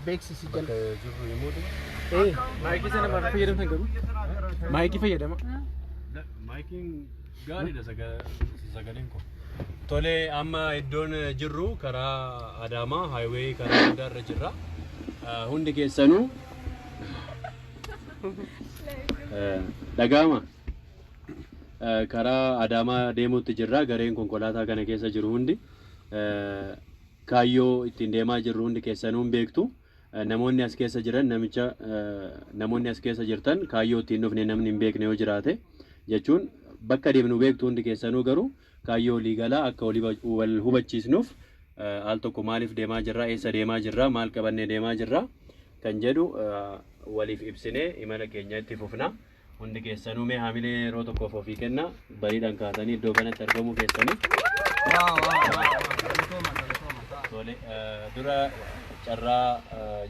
Beeksisi jala. Bakka jirru himuu dha. Maayikii sana maal fayyadamtan garuu? Maayikii fayyadama. Maayikiin gaariidha sagaleen koo. Tole amma iddoon jirru karaa Adaamaa haayiwee karaa guddaa irra jirra. Ah, Hundi keessanuu eh, dhaga'ama. Eh, Karaa Adaamaa deemuutti jirra. Gareen konkolaataa kana keessa jiru hundi eh, Kaayyoo ittiin deemaa jirru hundi keessanuu hin beektu. Namoonni as keessa jiran namicha namoonni as keessa jirtan kaayyoo ittiin dhufne namni hin beekne yoo jiraate jechuun bakka deemnu beektu hundi keessanuu garuu kaayyoo olii galaa akka olii wal hubachiisnuuf al tokko maaliif deemaa jirra eessa deemaa jirra maal qabannee deemaa jirra kan jedhu waliif ibsinee imala keenya itti fufna. Hundi keessanuu mee haamilee yeroo tokkoof ofii kenna bariidhaan kaatanii iddoo kanatti argamuu keessanii. Tole dura carraa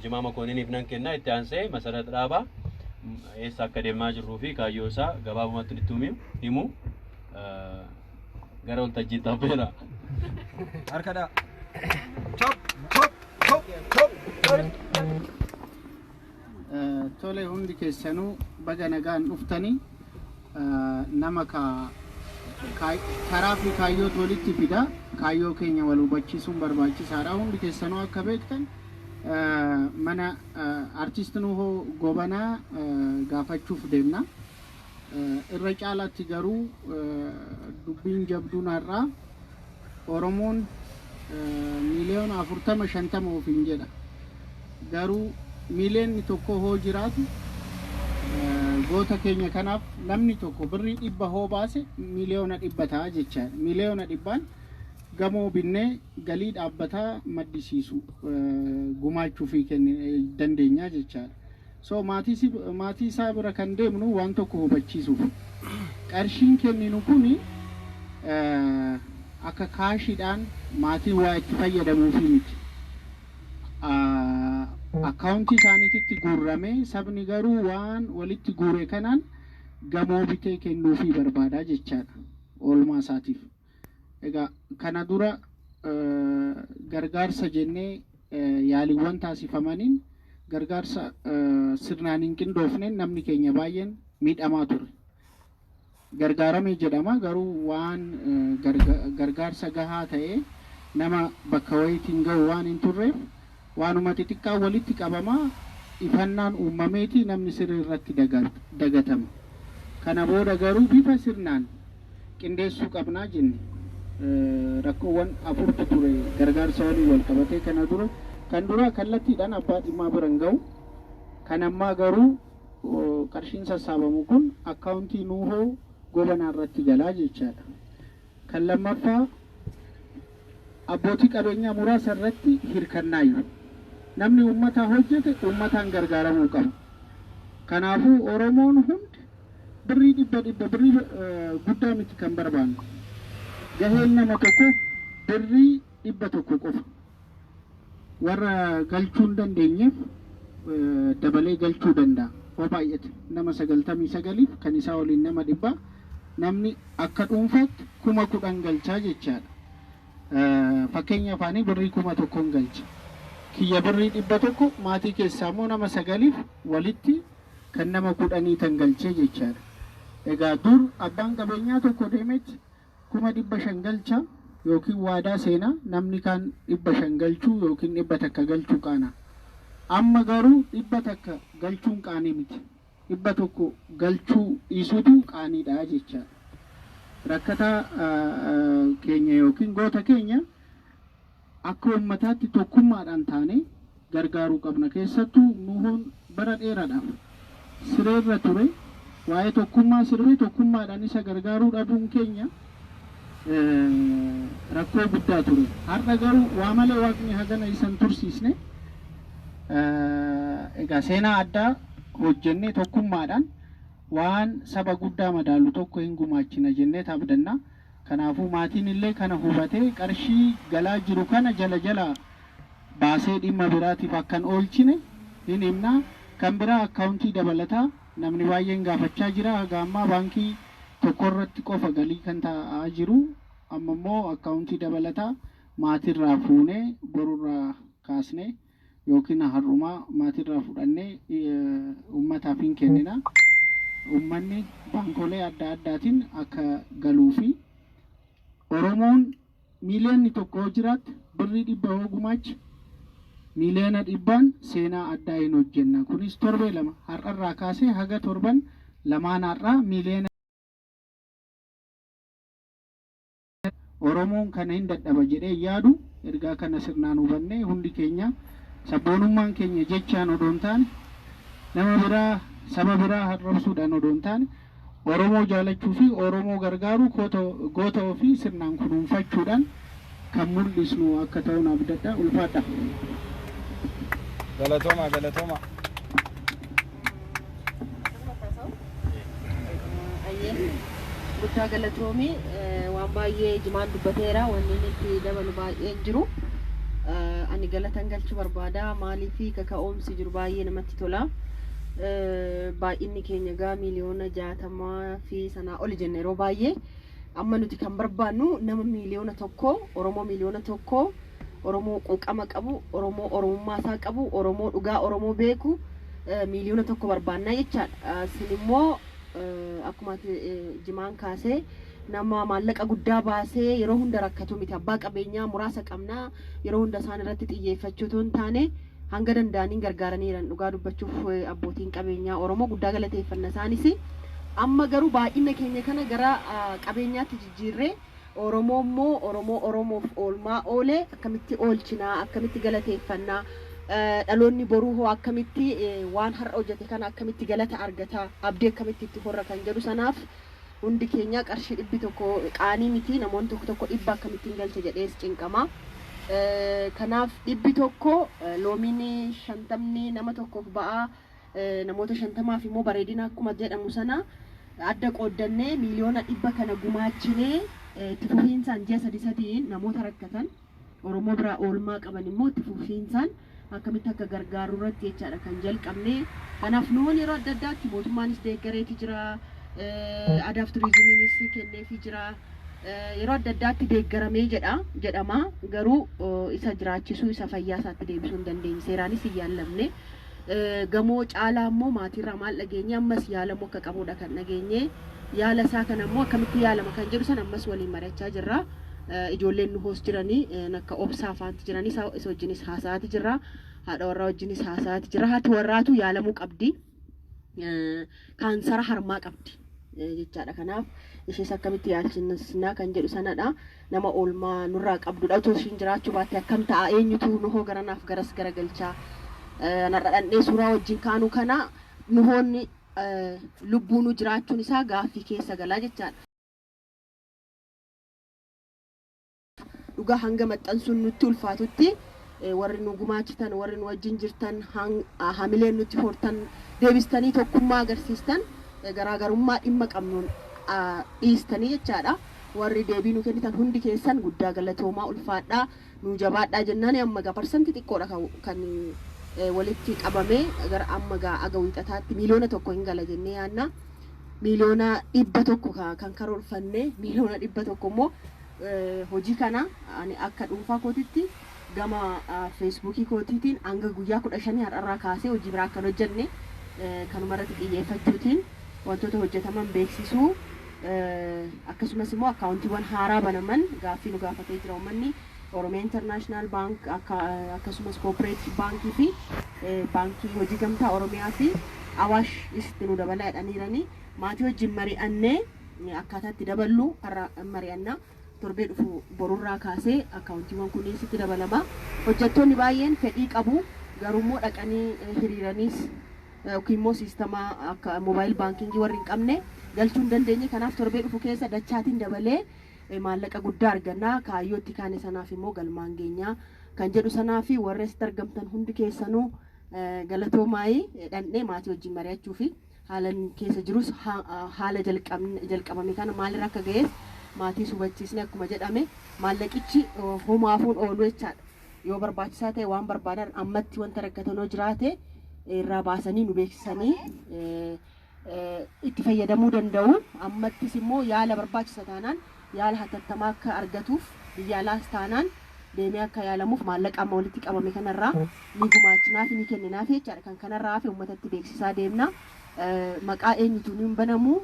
jimaa makooniniif nan kenna itti aansee masarat dhaabaa eessa akka deemaa jirruu fi kaayyoo isaa gabaabumatti itti himu himu gara waltajjii taapheera. Harkadha. Chop chop chop chop. Tole hundi keessanuu baga nagaan dhuftani. Nama karaa fi kaayyootu walitti fida. Kaayyoo keenya wal hubachiisuun barbaachisaadha. Hundi keessanuu akka beektan mana artist Nuhoo Gobanaa gaafachuuf deemna. Irra caalaatti garuu dubbiin jabduun har'aa Oromoon miiliyoona afurtama shantama ofiin jedha. Garuu miiliyoonni tokko hoo jiraatu goota keenya kanaaf namni tokko birrii dhibba hoo baase miiliyoona dhibba ta'a jecha miiliyoona dhibbaan gamoo binnee galii dhaabbataa maddisiisu gumaachuufii dandeenya jechaadha. So maatii isaa bira kan deemnu waan tokko hubachiisuuf. Qarshiin kenninu kuni akka kaashiidhaan maatiin waa itti fayyadamuufi miti. Akkaawuntii isaaniititti guurrame, sabni garuu waan walitti guure kanaan gamoo bitee kennuufii barbaada jechaadha. Oolmaa isaatiif. Egaa kana dura gargaarsa jennee yaaliiwwan taasifamaniin gargaarsa sirnaan hin qindoofneen namni keenya baay'een miidhamaa ture. Gargaarame jedhama garuu waan gargaarsa gahaa ta'ee nama bakka wayiitiin ga'u waan hin turreef Waanuma xixiqqaan walitti qabama, ifannaan uummameeti namni sirri irratti dagatama. Kana booda garuu bifa sirnaan qindeessuu qabna jenne. Rakkoowwan afurtu ture gargaarsa waliin walqabatee kana dura. Kan duraa kallattiidhaan abbaa dhimmaa bira hin gahu. Kan ammaa garuu qarshiin sassaabamu kun akkaawuntii Nuuhoo Gobanaa irratti gala jechaadha. Kan lammaffaa abbootii qabeenyaa muraasa irratti hirkannaayyu. Namni uummataa hojjete uummataan gargaaramuu qaba. Kanaafuu Oromoon hundi birrii dhibba dhibba birrii guddaa miti kan barbaannu. Gaheen nama tokko birrii dhibba tokko qofa. Warra galchuu hin dandeenyeef dabalee galchuu danda'a. Hoo baay'ate nama 99f kan isaa waliin nama dhibba namni akka dhuunfaatti 10,000 galcha jechaadha. Fakkeenya afaanii birrii 1000n galcha. Kiyya birrii 100 maatii keessaa immoo nama 9f walitti kan nama 10 tan galchee jechaadha. Egaa dur abbaan qabeenyaa tokko deemeeti kuma dhibba shan galcha yookiin waadaa seena, namni kaan dhibba shan galchuu yookiin dhibba takka galchuu qaana. Amma garuu dhibba takka galchuun qaanii miti. Dhibba tokko galchuu dhiisuutu qaaniidha jechaadha. Rakkataa keenya yookiin goota keenya. Akka ummataatti tokkummaadhaan taanee gargaaruu qabna. Keessattuu Nuhoon bara dheeraadhaaf sireerra ture waa'ee tokkummaa sirbee tokkummaadhaan isa gargaaruu dhabuun keenya rakkoo guddaa ture. Har'a garuu waa malee Waaqni hagana isa hin tursiisne. Egaa seenaa addaa hojjennee tokkummaadhaan waan saba guddaa madaalu tokko hin gumaachina jenneet abdanna. Kanaafuu maatiin illee kana hubatee qarshii galaa jiru kana jala jalaa baasee dhimma biraatiif akka hin oolchine hin himna. Kan biraa akkaawuntii dabalataa namni baay'een gaafachaa jira. Haga ammaa baankii tokko irratti qofa galii kan ta'aa jiru. Amma immoo akkaawuntii dabalataa maatii irraa fuunee boru irraa kaasnee. yookiin har'uma maatirraa fudhannee ummataaf hin kennina. Ummanni baankolee adda addaatiin akka galuu fi Oromoon miiliyoonni tokko yoo jiraatte birrii dhibba yoo gumaache miiliyoona dhibbaan seenaa addaa hin hojjenna. Kunis torbee lama har'arraa kaasee haga torban lamaan har'aa miiliyoona Oromiyaa Oromoon kana hin dadhaba jedhee hin yaadu. Ergaa kana sirnaan hubannee hundi keenya sabboonummaan keenya jechaan odoo hin taane, nama biraa, saba biraa arrabsuudhaan odoo hin taane, Oromoo jaalachuu fi Oromoo gargaaruu koota goota ofii sirnaan kunuunfachuudhaan kan mul'isnu akka ta'un abdadha. Ulfaadhaa! Galatoomaa galatoomaa. Guddaa galatoomi waan baay'ee jimaan dubbateera wanni inni itti dabalu baay'ee hin jiru. Ani galatan galchuu barbaada maaliif kaka'umsi jiru baay'ee namatti tola. Baay'inni keenya egaa miiliyoona jaatamaa fi sanaa oli jenna yeroo baay'ee. Amma nuti kan barbaannu nama miiliyoona tokko Oromoo miiliyoona tokko Oromoo quuqama qabu, Oromoo Oromummaa isaa qabu, Oromoo dhugaa Oromoo beeku miiliyoona tokko barbaannaa jechaadha. Sin immoo akkuma ati jimaan kaasee nama maallaqa guddaa baasee yeroo hunda rakkatu miti. Abbaa qabeenyaa muraasa qabna yeroo hunda isaan irratti xiyyeeffachuu otoo hin taane hanga danda'aniin gargaaraniiran dhugaa dubbachuuf abbootiin qabeenyaa Oromoo guddaa galateeffanna isaanis. Amma garuu baay'ina keenya kana gara qabeenyaatti jijjiirree Oromoo immoo Oromoo Oromoof oolmaa oole akkamitti oolchinaa, akkamitti galateeffanna, dhaloonni boruu hoo akkamitti waan har'a hojjete kana akkamitti galata argata, abdii akkamitti itti horra kan jedhu sanaaf hundi keenya qarshii dhibbi tokko qaanii miti namoonni tokko tokko dhibba akkamittiin galcha jedhees cinqama. Kanaaf dhibbi tokko loomiin shantamni nama tokkoof ba'aa. Namoota shantamaaf immoo bareedina akkuma jedhamu sana adda qooddannee miiliyoona dhibba kana gumaachinee itti fufiinsaan ji'a sadii sadiin namoota rakkatan Oromoo biraa oolmaa qaban immoo itti fufiinsaan akkamitti akka gargaarru irratti jechaadha kan jalqabne. Kanaaf nuun yeroo adda addaatti mootummaanis deeggareeti jira, aadaaf turiizimiinis kenneefi jira. Yeroo adda addaatti deeggaramee jedha jedhama garuu isa jiraachisuu isa fayyaa isaatti deebisuu hin dandeenye seeraanis hin yaallamne. Gamoo caalaa immoo maatiirraa maal dhageenye? Ammas yaalamuu akka qabuudha kan dhageenye. Yaala isaa kana immoo akkamitti yaalama kan jedhu sana ammas waliin mari'achaa jirra. Ijoolleen nu hoos jiranii akka obsaa faanti jiranii isa isa wajjinis haasa'aati jirra. Haadha warraa wajjinis haasa'aati jirra. Haati warraatu yaalamuu qabdi. Kaansara harmaa qabdi jechaadha. Kanaaf ishees akkamitti yaalchisnaa kan jedhu sanadha. Nama oolmaa nurraa qabdudha. Utuu ishiin jiraachuu baattee akkam ta'a? Eenyutu Nuhoo garanaaf garas garagalcha? An har'a dhandhee suuraa wajjin kaanuu kana Nuhoon lubbuunuu jiraachuun isaa gaaffii keessa gala jechaadha. Dhugaa hanga maxxansuun nutti ulfaatutti warri nu gumaachitan, warri nu wajjin jirtan, hamileen nutti hortan, deebistanii tokkummaa agarsiistan, garaagarummaa dhimma qabnuun dhiistanii jechaadha. Warri deebii nu kennitan hundi keessan guddaa galatoomaa ulfaadhaa nuu jabaadhaa jennaani amma egaa parsanti xiqqoodha ka kan walitti qabame gara amma egaa aga wiixataatti miiliyoona tokko hin gala jennee yaanna miiliyoona dhibba tokko ka kan karoorfanne miiliyoona dhibba tokko immoo hojii kana ani akka dhuunfaa kootitti Gama Feesbuukii kootiitiin hanga guyyaa 15 har'arraa kaasee hojii biraa akka hin hojjenne kanumarratti xiyyeeffachuutiin wantoota hojjetaman beeksisuu akkasumas immoo akkaawuntiiwwan haaraa banaman gaaffii nu gaafatee jira uummanni Oromiyaa Internaashinaal Baank akkasumas Koopereetiif Baankii fi Baankii Hojii Gamtaa Oromiyaa fi Awaash itti nu dabalaa jedhaniiranii maatii wajjin mari'annee akkaataa itti daballu har'a mari'anna. Torbee dhufu borurraa kaasee akkaawuntiiwwan kunniin sitti dabalama. Hojjattoonni baay'een fedhii qabu, garuummoo dhaqanii hiriiraniis yookiimmoo siistama akka mobile banking warri hin qabne galchuu hin dandeenye. Kanaaf torbee dhufu keessa dachaatiin dabalee maallaqa guddaa arganna. Kaayyoo itti kaane sanaaf immoo galmaan geenya kan jedhu sanaafi. Warri asitti argamtan hundi keessanuu galatoomaayii dhandhee maatii wajjin mari'achuufi. Haalan keessa jirus haala jalqabame kana maalirra akka gahes maatiis hubachiisne akkuma jedhame maallaqichi homaafuu hin oolu jechaadha. Yoo barbaachisaa ta'e waan barbaadan ammatti wanta rakkatan yoo jiraate irraa baasanii nu beeksisanii itti fayyadamuu danda'u. Ammattis immoo yaala barbaachisa taanaan yaala hatattamaa akka argatuuf biyya alaas taanaan deemee akka yaalamuuf maallaqa amma walitti qabame kanarraa ni gumaachinaafi ni kenninaafi jechaadha. Kan kanarraa hafe ummatatti beeksisaa deemna. Maqaa eenyutuun hin banamu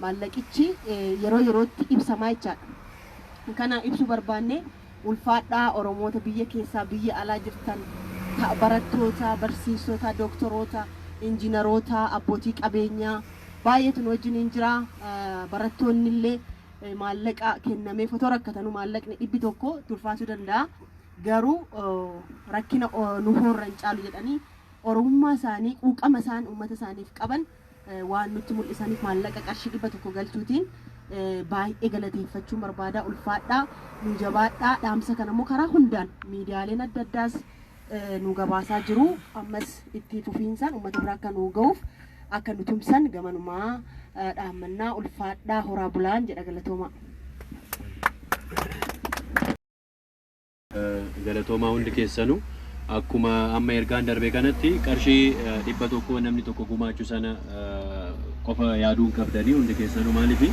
maallaqichi yeroo yerootti ibsamaa jechaadha. Kana ibsuu barbaanne ulfaadhaa Oromoota biyya keessaa biyya alaa jirtan barattoota, barsiistota, doktoroota, injinaroota, abbootii qabeenyaa baay'eetu nu wajjiniin jira. Barattoonnillee. maallaqa kennameef otoo rakkatanu maallaqni dhibbi tokko tulfaachuu danda'a. Garuu rakkina nu hoorra hin caalu jedhanii oromummaa isaanii quuqama isaan uummata isaaniif qaban waan nutti mul'isaniif maallaqa qarshii dhibba tokko galchuutiin baay'ee galateeffachuun barbaada ulfaadhaa nu jabaadhaa dhaamsa kana immoo karaa hundaan miidiyaaleen adda addaas nu gabaasaa jiru ammas itti fufiinsaan uummata bira akka nu ga'uuf akka nu tumsan gamanumaa dhaammannaa ulfaadhaa horaa bulaan jedha galatoomaa. galatoomaa hundi keessanu akkuma amma ergaan darbe kanatti qarshii dhibba tokko namni tokko gumaachu sana qofa yaaduun qabdanii hundi keessanu maaliif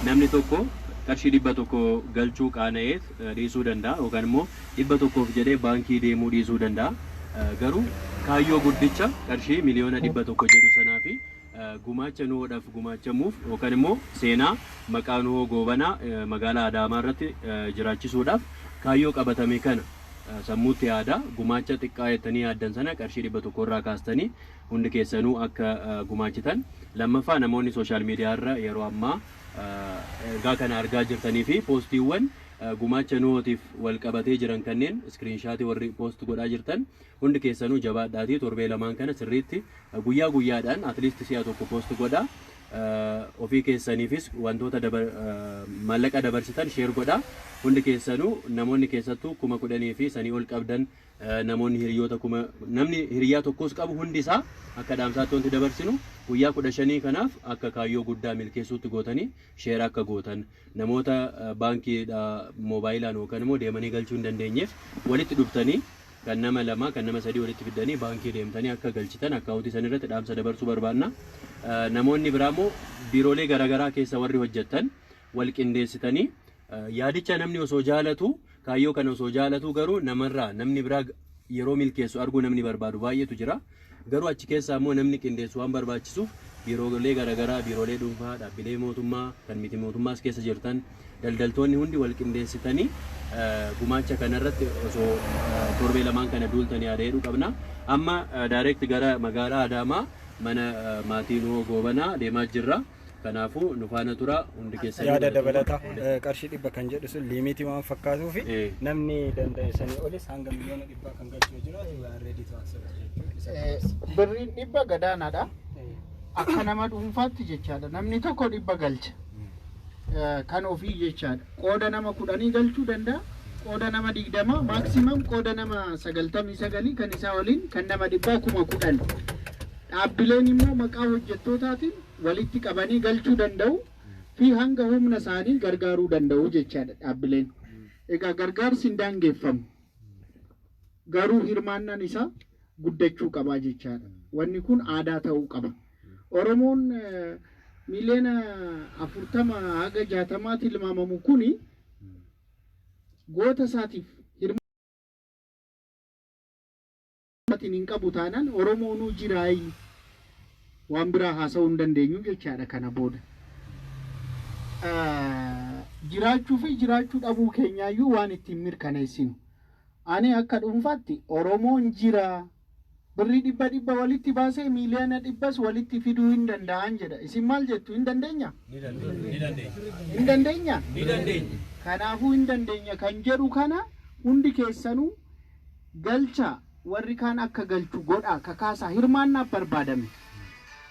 namni tokko qarshii dhibba tokko galchuu qaana'eet dhiisuu danda'a yookaan immoo 100f jedhee baankii deemuu dhiisuu danda'a. Garuu kaayyoo guddicha qarshii miliyoona 100 jedhu sanaa fi gumaacha Nuhoodhaf gumaachamuuf yookaan immoo seenaa maqaa Nuhoo Goobanaa magaalaa Adaamaa irratti jiraachisuudhaaf kaayyoo qabatame kana sammuutti yaadaa. Gumaacha xiqqaa jettanii yaaddan sana qarshii 100 irraa kaastanii hundi keessanuu akka gumaachitan. Lammaffaa namoonni social media irra yeroo ammaa. Ergaa kana argaa jirtanii fi poostiiwwan gumaacha Nuhootiif wal qabatee jiran kanneen iskiriinshaatii warri poost godhaa jirtan hundi keessanuu jabaadhaatii torbee lamaan kana sirriitti guyyaa guyyaadhaan at least si'a tokko poost godhaa. Ofii keessaniifis wantoota maallaqa dabarsitan sheer godhaa. Hundi keessanuu namoonni keessattuu kuma kudhanii fi sanii ol qabdan Namoonni hiriyoota kuma namni hiriyaa tokkoos qabu hundi isaa akka dhaamsaatti wanti dabarsinu guyyaa kudha shanii kanaaf akka kaayyoo guddaa milkeessuutti gootanii sheera akka gootan namoota baankiidha moobaayilaan yookaan immoo deemanii galchuu hin dandeenyeef walitti dhuftanii kan nama lamaa kan nama sadii walitti fiddanii baankii deemtanii akka galchitan akkaawuntii san irratti dhaamsa dabarsuu barbaanna. Namoonni biraa immoo biiroolee garaagaraa keessa warri hojjettan wal qindeessitanii Yaadicha namni osoo jaalatuu, kaayyoo kana osoo jaalatuu garuu namarraa namni biraa yeroo milkeessu arguu namni barbaadu baay'eetu jira. Garuu achi keessaa immoo namni qindeessu waan barbaachisuuf biiroolee garaagaraa, biiroolee dhuunfaa, dhaabbilee mootummaa, kan miti mootummaas keessa jirtan, daldaltoonni hundi wal qindeessitanii gumaacha kanarratti osoo torbee lamaan kana duultanii yaada jedhu qabna. Amma direct gara magaalaa Adaamaa mana maatii Nuhoo Goobanaa deemaa jirra. Kanaafuu nu faana turaa hundi keessan yaada dabalataa eh, qarshii dhibba kan jedhu sun liimiitii waan fakkaatuu fi Eh. namni danda'e sanii olis hanga miliyoona dhibbaa kan galchuu jira reedii to accept jechuun isa Eh, dabarsa. birriin dhibba gadaanaadha Eh, akka nama dhuunfaatti jechaadha namni tokko dhibba galcha Eh, kan ofii jechaadha qooda nama kudhanii galchuu danda'a qooda nama digdama maaksimaam qooda nama sagaltamii sagalii kan isaa waliin kan nama dhibbaa kuma kudhan dhaabbileen immoo maqaa hojjettootaatiin walitti qabanii galchuu danda'u fi hanga humna isaanii gargaaruu danda'u jechaadha dhaabbileen. Egaa gargaarsi hin daangeffamu. Garuu hirmaannaan isaa guddachuu qabaa jechaadha. Wanni kun aadaa ta'uu qaba. Oromoon miliyoona afurtama haga jaatamaa tilmaamamu kuni goota isaatiif Furmaatiin hin qabu taanaan Oromoonuu jiraayyu waan biraa haasa'uu hin dandeenyu jechaadha kana booda. Jiraachuu fi jiraachuu dhabuu keenyaayyuu waan ittiin mirkaneessinu. Ani akka dhuunfaatti Oromoon jira, birrii dhibba dhibba walitti baasee miiliyoona dhibbas walitti fiduu hin danda'an jedha. Isin maal jettu? Hin dandeenya? Hin dandeenya? Kanaafuu hin dandeenya kan jedhu kana hundi keessanuu Galchaa, warri kaan akka galchu godhaa, kakaasaa, hirmaannaaf barbaadame.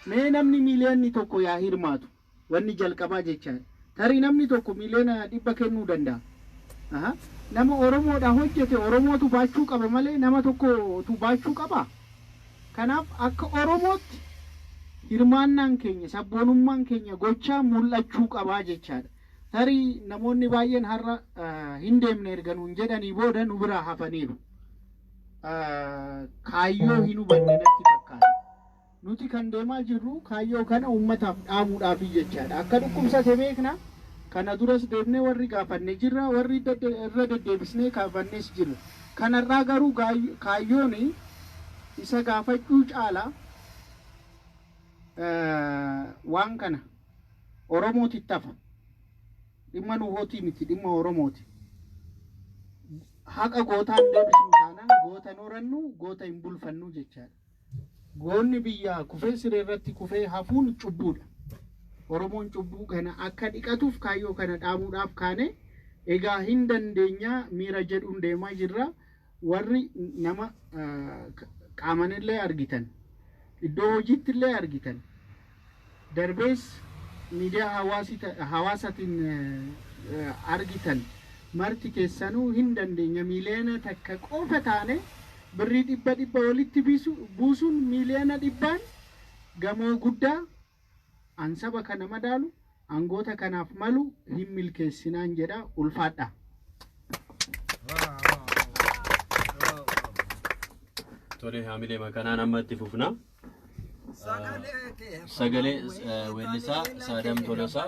Mee namni miiliyoonni tokko yaa hirmaatu. Wanni jalqabaa jechaadha. Tarii namni tokko miiliyoona dhibba kennuu danda'a. Aha. Nama Oromoodhaa hojjete Oromootu baachuu qaba malee nama tokkotu baachuu qabaa? Kanaaf akka Oromootti hirmaannaan keenya, sabboonummaan keenya gochaan mul'achuu qabaa jechaadha. Tarii namoonni baay'een har'a hin deemne erga nuun jedhanii booda nu biraa hafaniiru. Kaayyoo hin hubanne natti fakkaata. Nuti kan deemaa jirru kaayyoo kana uummataaf dhaamuudhaafi jechaadha. Akka dhukkubsate beekna. Kana duras deemnee warri gaafanne jirra, warri irra deddeebisnee gaafannes jirra. Kan har'aa garuu kaayyoon isa gaafachuu caala waan kana. Oromoo tittafa. Dhimma nuhootii miti dhimma Oromooti. Haqa gootaa hin deebisnu taanaan goota hin horannu, goota hin bulfannu jechaadha. Goonni biyyaa kufee siree irratti kufee hafuun cubbuudha. Oromoon cubbuu kana akka dhiqatuuf kaayyoo kana dhaamuudhaaf kaane. Egaa hin dandeenyaa miira jedhuun deemaa jirra. Warri nama qaamanillee argitan, iddoo hojiittillee argitan, darbees miidiyaa hawaasii hawaasatiin argitan marti keessanuu hin dandeenya miiliyoona takka qofa taane birrii dhibba dhibba walitti buusuun miiliyoona dhibbaan gamoo guddaa An saba kana madaalu angoota kanaaf malu hin milkeessinaan jedha ulfaadhaa. Tole haamilee makanaan amma itti fufna. Sagalee eh, weellisaa Saadam Tolosaa